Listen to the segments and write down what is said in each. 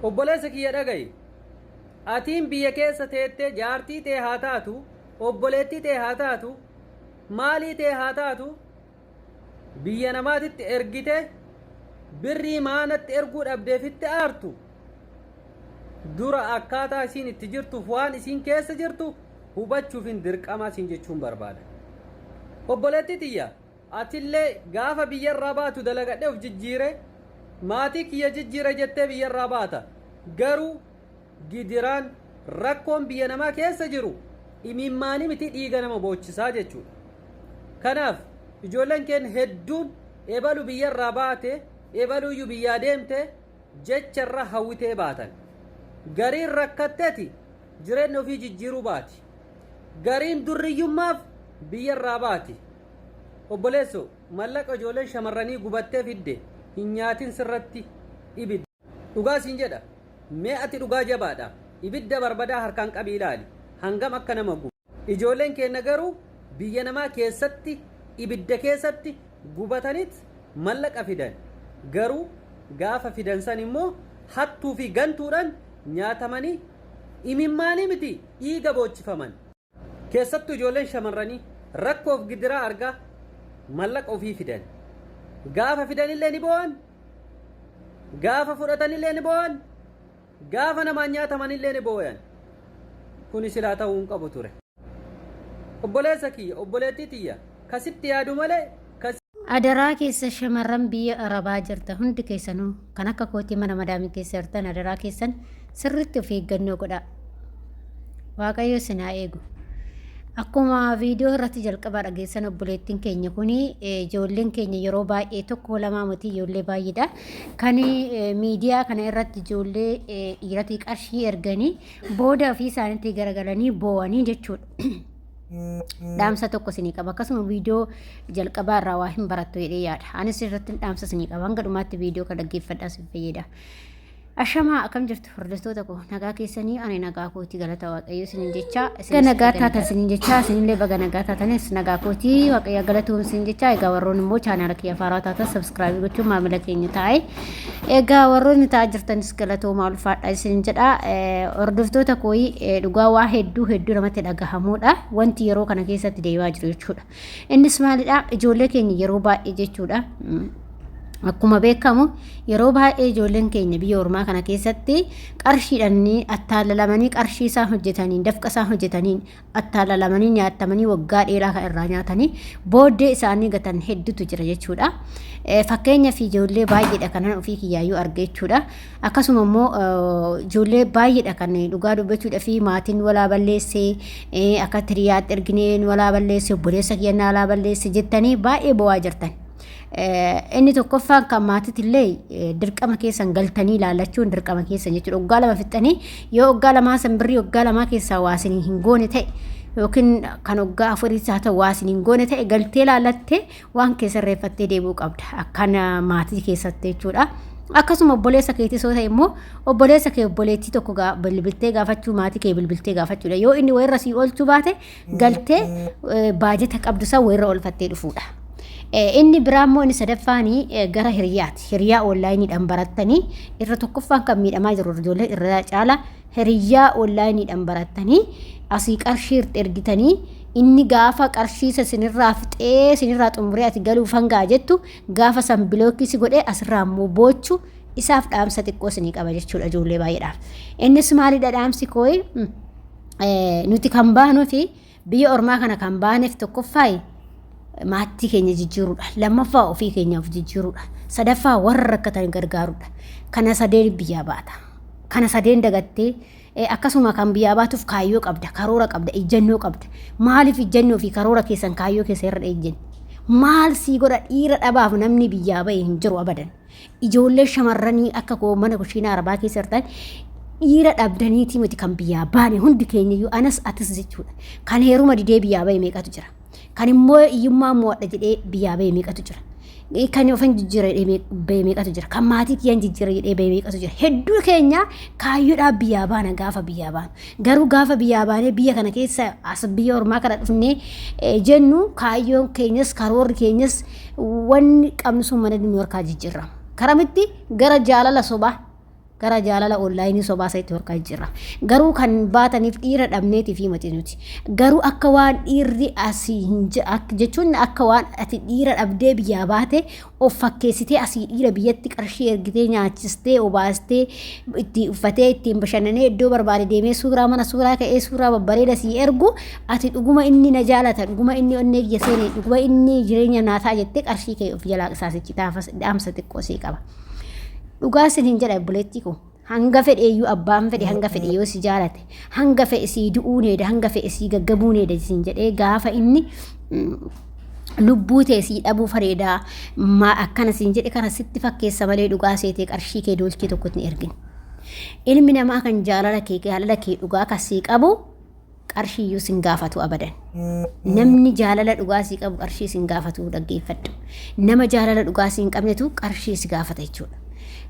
Obboleessa kiyya dhagayi! Atiin biyya keessa teettee jaartii tee haa taatu, obboleettii tee haa taatu, maalii tee haa taatu biyya namaatitti ergite birrii maanatti erguu dhabdeefitti aartu dura akkaataa isiin itti jirtuuf waan isiin keessa jirtu hubachuufin dirqamaa siin jechuun barbaada. Obboleettii tiyya! Atillee gaafa biyyarraa baatu dalagadhee of jijjiire maatii kiyya jijjiire jettee biyyarraa baata. Garuu gidiraan rakkoon biyya namaa keessa jiru imimmaanii miti dhiiga nama boochisaa jechuudha. Kanaaf ijoolleen keenya hedduun ebalu biyyarraa baate ebaluyyuu biyyaa deemte jecharra hawwitee baatan. Gariin rakkatteti jireenya ofii jijjiiruu baati. Gariin durriyyummaaf biyyarraa baati. Obboleesso mallaqa ijoolleen shamarranii gubattee fidde hin nyaatin sirratti ibidda. Dhugaa siin jedha mee ati dhugaa jabaadha ibidda barbadaa harkaan qabii ilaali hangam akka nama gubu. Ijoolleen keenna garuu biyya namaa keessatti ibidda keessatti gubatanit mallaqa fidan garuu gaafa fidan san immoo hattuu fi gantuudhan nyaatamanii imimmaanii miti dhiiga boochifaman. Keessattuu ijoolleen shamarranii rakkoof gidiraa argaa mallaqa ofii fidan. Gaafa fidanillee ni boo'an, gaafa fudhatanillee ni boo'an, gaafa namaan nyaatamanillee ni boo'an. Kuni silaa ta'uu hin qabu ture. Obboleessa kiyya, obboleettii tiyya, ka sitti yaadu malee Adaraa keessa shamarran biyya arabaa jirta hundi keessanuu kan akka kootii mana madaamii keessa jirtan adaraa keessan sirritti of eeggannoo godhaa. Waaqayyo isin haa eegu. Akkuma viidiyoo irratti jalqabaa dhageessan obboleettiin keenya kun ijoolleen keenya yeroo baay'ee tokko lamaa miti ijoollee baay'eedha. Kan miidiyaa kana irratti ijoollee dhiiratii qarshii erganii booda ofii isaaniitti garagalanii boo'anii jechuudha. dhaamsa tokko isinii qaba akkasuma viidiyoo jalqabaa irraa waa hin barattu jedhee yaada anis irratti dhaamsa isinii qaba hanga dhumaatti viidiyoo kan dhaggeeffadhaa isin fayyada ashamaa akkam jirtu hordoftoota koo nagaa keessanii ani nagaa kooti galata waaqayyo isinin jechaa baga nagaa taatan isinin jechaa isinillee baga nagaa taatanis nagaa kooti waaqayyo galatuun isin jechaa egaa warroon immoo chaanaala kiyya faaraa taatan sabskraabii gochuun maamila keenya taa'e Egaa warroonni ta'aa jirtanis galatoomaa ulfaadha isin jedha. Hordoftoota kooyi dhugaa waa hedduu hedduu namatti dhagahamuudha. Wanti yeroo kana keessatti deemaa jiru jechuudha. Innis maalidha? Ijoollee keenya yeroo baay'ee jechuudha. Akkuma beekamu yeroo baay'ee ijoolleen keenya biyya ormaa kana keessatti qarshiidhaan attaallalamanii qarshii isaan hojjetaniin dafqa isaan hojjetaniin attaallalamanii nyaatamanii waggaa dheeraa kan irraa nyaatanii booddee isaanii gatan hedduutu jira jechuudha. Fakkeenya fi ijoollee baay'eedha kanan ofii kiyyaayyuu arge jechuudha. Akkasuma immoo ijoollee baay'eedha kan dhugaa dubbachuudha fi maatiin walaa balleessee akka tiriyaatti ergineen walaa balleessee obboleessa kiyannaa alaa balleessee jettanii baay'ee bo'aa jirtan. Inni tokkoffaan kan maatitillee dirqama keessan galtanii ilaalachuun dirqama keessan jechuudha. Oggaa lama fixxanii yoo oggaa lamaa san birrii oggaa lamaa keessaa waasin hin goone ta'e yookiin kan oggaa afuriis haa ta'u waasin hin goone ta'e galtee ilaalattee waan kee sirreeffattee deebi'uu qabda. Akkan maatii keessatti jechuudha. Akkasuma obboleessa keetii soo ta'e immoo obboleessa kee obboleettii tokko bilbiltee gaafachuu maatii kee bilbiltee gaafachuudha. Yoo inni wayirra sii oolchuu baate galtee baajeta qabdu san walirra oolfattee dhufuudha. Inni biraa immoo inni sadaffaan gara hiriyaati. Hiriyaa onlaayiniidhaan barattanii irra tokkoffaan kan miidhamaa jiru ijoollee irra caala hiriyaa onlaayiniidhaan barattanii asii qarshii irratti ergitanii inni gaafa qarshii isa sinirraa fixee sinirraa xumuree ati galuuf hangaa jettu gaafa san bilookii si godhee asirraa immoo boochu isaaf dhaamsa xiqqoo sinii qaba jechuudha ijoollee baay'eedhaaf. Innis maalidha dhaamsi kooyi? nuti kan baanuu fi biyya ormaa kana kan baaneef tokkoffaa maattii keenya jijjiiruudha. Lammaffaa ofii keenyaaf jijjiiruudha. Sadaffaa warra rakkatan gargaaruudha. Kana sadeen biyyaa baata. Kana sadeen dagattee akkasuma kan biyyaa baatuuf kaayyoo qabda, karoora qabda, ijjannoo qabda. Maaliif ijjannoo fi karoora keessan kaayyoo keessa irra ejjenni? Maal sii godha dhiira dhabaaf namni biyyaa bahe hin jiru abadan. Ijoollee shamarranii akka koo mana kushiinaa arabaa keessa jirtan dhiira dhabdaniitii miti kan biyyaa baane hundi keenya iyyuu anas atis jechuudha. Kan heeruma didee biyyaa bahe meeqatu jira. Kan immoo hiyyummaa mo'adha jedhee biyyaa bahe meeqatu jira. Kan of hin jijjiirre jedhee bahe meeqatu jira. Kan maatii kiyya hin jijjiirre jedhee bahe meeqatu jira. Hedduu keenya kaayyoodhaaf biyyaa baana gaafa biyyaa baanu. Garuu gaafa biyyaa baanee biyya kana keessa as biyya ormaa kana dhufnee jennu kaayyoon keenyas karoorri keenyas wanni qabnu sun mana nu harkaa jijjiirrama. Karamitti gara jaalala sobaa gara jaalala onlaayinii sobaa isa itti harkaa jijjiirrama. Garuu kan baataniif dhiira dhabneetii fi matii nuti. Garuu akka waan dhiirri asii hin je- ak- jechuun akka waan ati dhiira dhabdee biyyaa baate of fakkeessitee asii dhiira biyyatti qarshii ergitee nyaachistee obaastee itti uffatee ittiin bashannanee iddoo barbaade deemee suuraa mana suuraa ka'ee suuraa babbareeda sii ergu ati dhuguma inni na jaalata dhuguma inni onnee kiyya seene dhuguma inni jireenya naa ta'a jettee qarshii kee of jalaa qisaasichi dhaamsa xiqqoo sii qaba. Dhugaa sin hin jedha obboleettii koo hanga fedhe iyyuu abbaan fedhe hanga fedhe yoo si jaalate Hanga fe'e sii du'uu needa, hanga fe'e sii gaggabuu needa siin jedhee gaafa inni lubbuu tee sii dhabuu fareedaa maa akkana siin jedhe kana sitti fakkeessa malee dhugaa seetee qarshii kee doolchii tokkotti hin ergin. Ilmi namaa kan jaalala kee jaalala kee dhugaa kan sii qabu qarshiiyyuu sin gaafatu abadan. Namni jaalala dhugaa sii qabu qarshii sin gaafatu dhaggeeffadhu. Nama jaalala dhugaa siin qabnetu qarshii si gaafata jechuudha.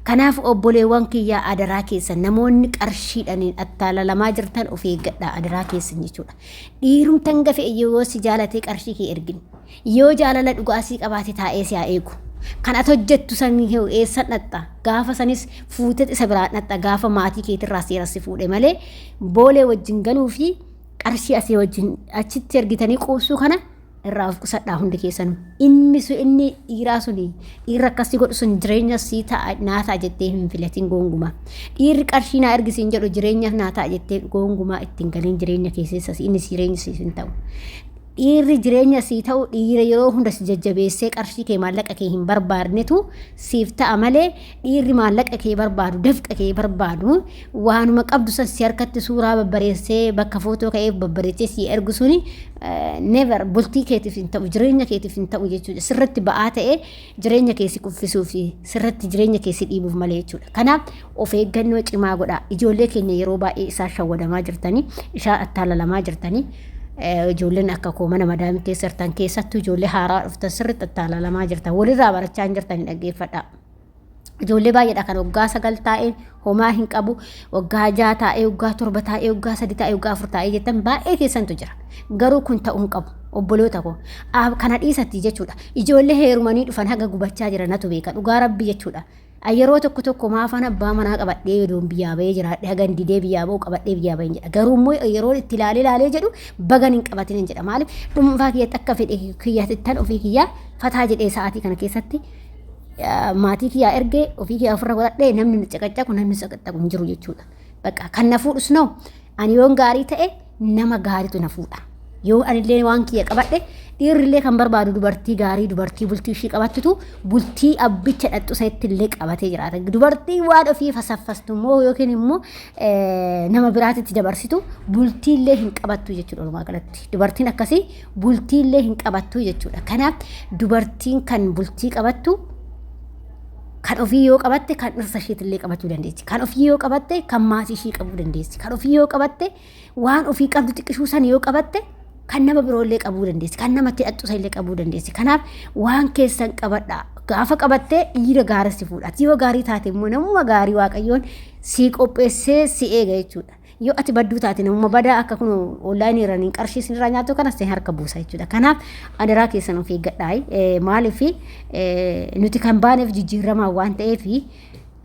Kanaaf obboleewwan kiyyaa adaraa keessan namoonni qarshiidhaniin attaalalamaa jirtan of eeggadhaa adaraa keessan jechuudha. Dhiirumti hanga fe'e yoo si jaalatee qarshii kee ergin. Yoo jaalala dhugaa sii qabaate taa'ee si haa eegu. Kan ati hojjettu san heewu eessan dhaxxa. Gaafa sanis fuutee isa biraan dhaxxa gaafa maatii keetirraa seera si fuudhe malee boolee wajjin galuu fi qarshii asii wajjin achitti ergitanii quubsuu kana irraa of qusadhaa hundi keessanuu. Inni sun inni dhiiraa sun dhiirri akkasii godhu sun jireenya sii ta'a naa ta'a jettee hin filatiin goongumaa. Dhiirri qarshii naa ergisi hin jedhu jireenya naa ta'a jettee goongumaa ittiin galiin jireenya keessessas inni jireenya siif hin ta'u. Dhiirri jireenya sii ta'u dhiira yeroo hunda si jajjabeessee qarshii kee maallaqa kee hin barbaadnetu siif ta'a malee dhiirri maallaqa kee barbaadu dafqa kee barbaadu waanuma qabdu san si harkatti suuraa babbareessee bakka footoo ka'ee babbareessee si ergu suni never bultii keetiif hin ta'u jireenya keetiif hin ta'u jechuudha sirratti ba'aa ta'ee jireenya kee si kuffisuu fi sirratti jireenya kee si dhiibuuf malee jechuudha. Kanaaf of eeggannoo cimaa godhaa. Ijoollee keenya yeroo baay'ee isaan shawwadamaa jirtanii, isaan attaalalamaa jirtanii, eh, ijoolleen akka koo mana madaamii keessa jirtan keessattuu ijoollee haaraa dhuftan sirriitti attaalalamaa jirtan. Walirraa barachaa hin jirtanii dhaggeeffadhaa. Ijoollee baay'eedha kan waggaa sagal taa'e homaa hin qabu waggaa ja'a taa'ee waggaa torba taa'ee waggaa sadi taa'ee waggaa afur taa'ee jettan baay'ee keessantu jira garuu kun ta'uu hin qabu obboloota koo Aab kana dhiisatti jechuudha ijoollee heerumanii dhufan haga gubachaa jira natu beeka dhugaa rabbi jechuudha An yeroo tokko tokko maafan abbaa manaa qabadhee yodoon biyyaa bahee jiraadhe hagan didee biyyaa bahu qabadhee biyyaa baheen jedha garuu immoo yeroo itti ilaalee ilaalee jedhu bagan hin qabatin hin jedha maaliif dhuunfaa kiyyatti akka fedhe kiyyatittan ofii kiyyaa fataa jedhee sa'aatii kana keessatti maatii kiyyaa ergee ofii kiyyaa ofirra godhadhee namni na caqacaqu namni caqacaqu hin jiru jechuudha. Bakka kan na fuudhus noo ani yoon gaarii ta'e nama gaariitu na fuudha. Yoo anillee waan kiyya qabadhe dhiirrillee kan barbaadu dubartii gaarii dubartii bultii ishii qabattutu bultii abbicha dhaxxu sanitti illee qabatee jiraata. Dubartii waan ofii fasaffastu immoo yookiin immoo nama biraatitti dabarsitu bultii illee hin qabattu jechuudha walumaa galatti. Dubartiin akkasii bultiillee hin qabattuu jechuudha. Kanaaf dubartiin kan bultii qabattu kan ofii yoo qabatte kan dhirsa isheetillee qabachuu dandeessi. Kan ofii yoo qabatte kan maatii ishee qabuu dandeessi. Kan ofii yoo qabatte waan ofii qabdu xiqqishuu san yoo qabatte kan nama biroollee qabuu dandeessi. Kan namatti hidhattu illee qabuu dandeessi. Kanaaf waan keessan qabadha. Gaafa qabattee dhiira gaarii si fuudha. Ati yoo gaarii taate immoo namuma gaarii waaqayyoon si qopheessee si eega jechuudha. Yoo ati badduu taate namuma badaa akka kun onlaayinii irraan hin qarshii isin irraa nyaatu kana isin harka buusa jechuudha. Kanaaf adaraa keessan of eeggadhaa. Maaliif nuti kan baaneef jijjiiramaa waan ta'eef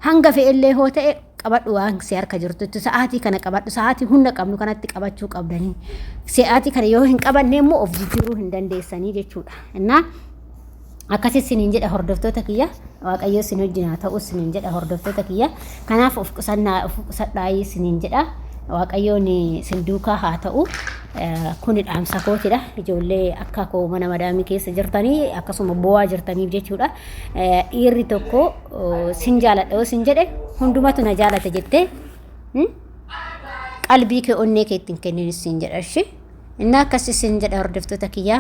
hanga fe'ellee hoo ta'e qabadhu waan si harka jirtutti sa'aatii kana qabadhu sa'aatii hunda qabnu kanatti qabachuu qabdanii sa'aatii kana yoo hin qabanne immoo of jijjiiruu hin dandeessanii jechuudha. Innaa Akkasi sinin jedha hordoftoota kiyya waaqayyoo sin wajjin haa ta'u sinin jedha hordoftoota kiyya kanaaf of qusannaa of qusadhaayii sinin jedha waaqayyoon sin duukaa haa ta'u kuni dhaamsa kootidha ijoollee akka koo mana madaamii keessa jirtanii akkasuma boo'aa jirtaniif jechuudha dhiirri tokko sin jaaladha yoo sin jedhe hundumatu na jaalata jettee qalbii kee onnee keetti hin kennin sin jedha ishee Inni akkas isin jedha hordoftoota kiyya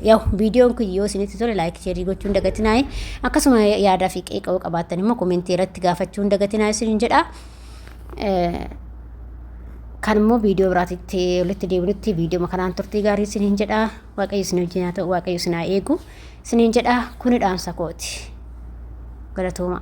yaw viidiyoon kun yoo isinitti tole laayik sheerii gochuun dagatinaayi akkasuma yaadaa fi qeeqa'uu qabaattan immoo komentii irratti gaafachuun dagatinaa isin jedha. Kan immoo viidiyoo biraatitti walitti deebinutti viidiyoo kanaan turtii gaarii isiniin jedha waaqayyo isin wajjin haa ta'u waaqayyo isin haa eegu isiniin jedha kuni dhaamsa kooti galatoomaa.